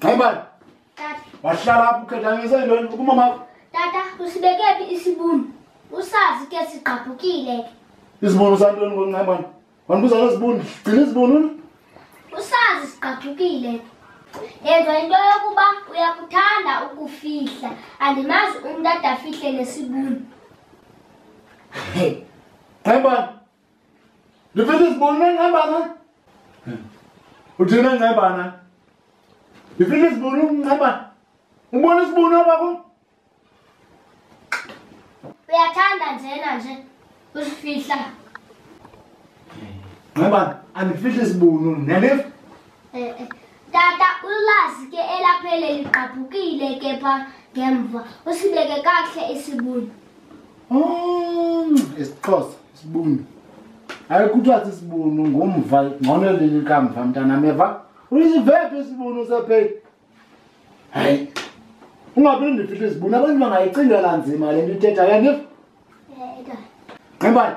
Ngayibani? Tata. Wahlala apho ukhetha ngise ntoni kumama. Tata usibekephi isibunu? Usazi ke sigqabhukile ke. Isibunu santoni ngoNcebani? Wandibuza ngezibunu, gcina izibunu. Usazi sigqabhukile ke. Yenza into yokuba uyakuthanda ukufihla. Andimazi umntu adafihle nesibunu. Hey. Ngayibani? Life this bone na ngabana. Uthina ngabana. Life this bone ngaba. Ubona isibona bako? Uyathanda njena nje. Usifihla. Ngaba anifihla isibunu nelif? Eh eh. Tata ulazi ke elaphele ligqabhukile ke pha ngemva. Usibeke kahle isibunu. Mm, isixhosa isibunu hayi kuthiwa sisibunu ngumva ngcono lini kamva mntanam eva uyisivephi isibunu sepheli hayi ungaphinde ndifihle izibunu abantu bangayicingela nzima le nto ithetha yandiva nximbani